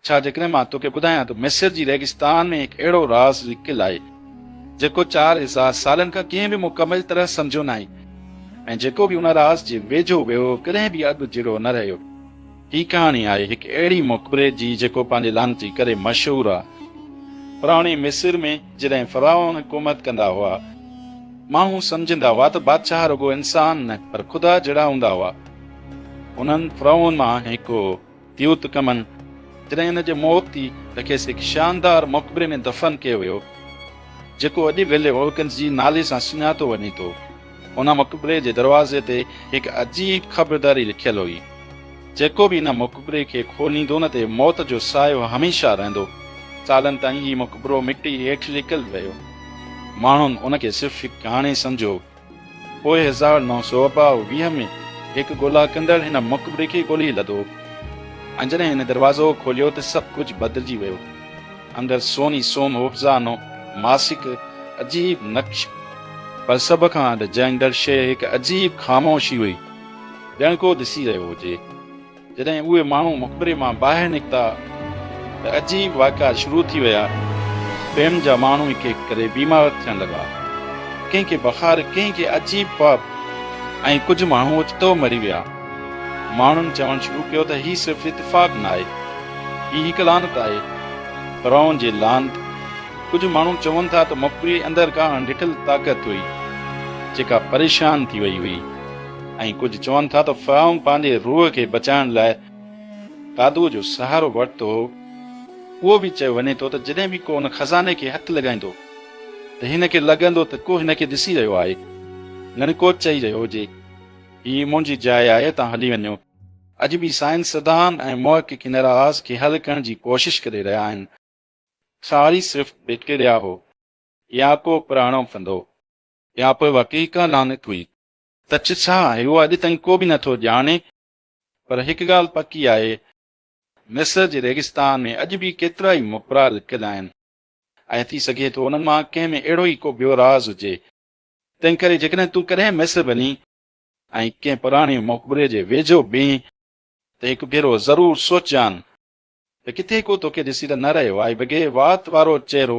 ڇا جيڪڏهن مان توکي ٻڌايان ته مصر جي ريگستان ۾ هڪ اهڙو راز لڪيل آهي، جيڪو چار هزار سالن کان ڪنهن به مڪمل طرح سمجهيو ناهي ۽ جيڪو به ان راز جي ويجهو ويو ڪڏهن به اڳ جهڙو نه رهيو. هي ڪهاڻي آهي هڪ اهڙي مقبري جي جيڪو پنهنجي لعنتي ڪري مشهور آهي. پراڻي مصر ۾ جڏهن فرعون حڪومت ڪندا هئا، ماڻهو سمجهندا هئا ته بادشاهه رڳو انسان نه پر خدا جهڙا هوندا هئا. انهن فرعون مان هڪ هو. تيوت ڪمن جڏهن هن جي موت ٿي ته کيس هڪ شاندار مقبري ۾ دفن ڪيو ويو جيڪو اڄ ويلي وولڪنس جي نالي سان سڃاتو وڃي ٿو. ان مقبري جي دروازي تي هڪ عجيب خبرداري لکيل هئي، جيڪو به ان مقبري کي کوليندو ان تي موت جو سايو هميشه رهندو. سالن تائين هي مقبرو مٽي هيٺ لڪل رهيو. ماڻهن ان کي صرف هڪ ڪهاڻي سمجهيو. پوء هزار نو سؤ ٻه ويهه ۾ هڪ ڳولا ڪندڙ هن مقبري کي ڳولي لڌو ۽ جڏهن هن دروازو کوليو ته سڀ ڪجهه بدلجي ويو. اندر سوني سوم هوفزانو ماسڪ عجيب نقش. پر سڀ کان اڏجائيندڙ شيء هڪ عجيب خاموشي هئي، ڄڻ ڪو ڏسي رهيو هجي. جڏهن اهي ماڻهو مقبري مان ٻاهر نڪتا ته عجيب واقعا شروع ٿي ويا. ٻين جا ماڻهو هڪ هڪ ڪري بيمار ٿيڻ لڳا. ڪنهن کي بخار، ڪنهن کي عجيب خواب ۽ ڪجهه ماڻهو اوچتو مري ويا. ماڻهن چوڻ شروع ڪيو ته هي صرف اتفاق نه آهي. هي هڪ لعنت آهي. فرعون جي لعنت. ڪجهه ماڻهو چون ٿا ته مقبري اندر ڪا اڻ ڏٺل طاقت هئي، جيڪا پريشان ٿي وئي هئي. ۽ ڪجهه چون ٿا ته فرعون پنهنجي روح کي بچائڻ لاء قادوء جو سهارو ورتو هو. اهو به چيو وڃي ٿو ته جڏهن به ڪو ان خزاني کي هٿ لڳائيندو ته هن کي لڳندو ته ڪو هن کي ڏسي رهيو آهي، ڄڻ ڪو چئي رهيو هجي، هي منهنجي جاء آهي، توهان هلي وڃو. اڄ به سائنسدان ۽ محققين راز کي حل ڪرڻ جي ڪوشش ڪري رهيا آهن. ساري صرف بيڪٽيريا هو يا ڪو پراڻو ڦندو يا پوء واقعي ڪا لعنت هئي. ته چه ڇا آهي اهو اڄ تائين ڪو به نه ٿو ڄاڻي پر هڪ ڳالهه پڪي آهي مصر جي ريگستان ۾ اڄ به ڪيترائي مپرا لڪل آهن ۽ ٿي سگهي ٿو انهن مان ڪنهن ۾ اهڙو ئي ڪو ٻيو راز هجي تنهن ڪري جيڪڏهن تون ڪڏهن مصر وڃين ۽ ڪنهن پراڻي مقبري جي ويجهو بيهين ته هڪ ڀيرو ضرور سوچجان ته ڪٿي ڪو توکي ڏسي ته نه رهيو آهي بگهي وات وارو چهرو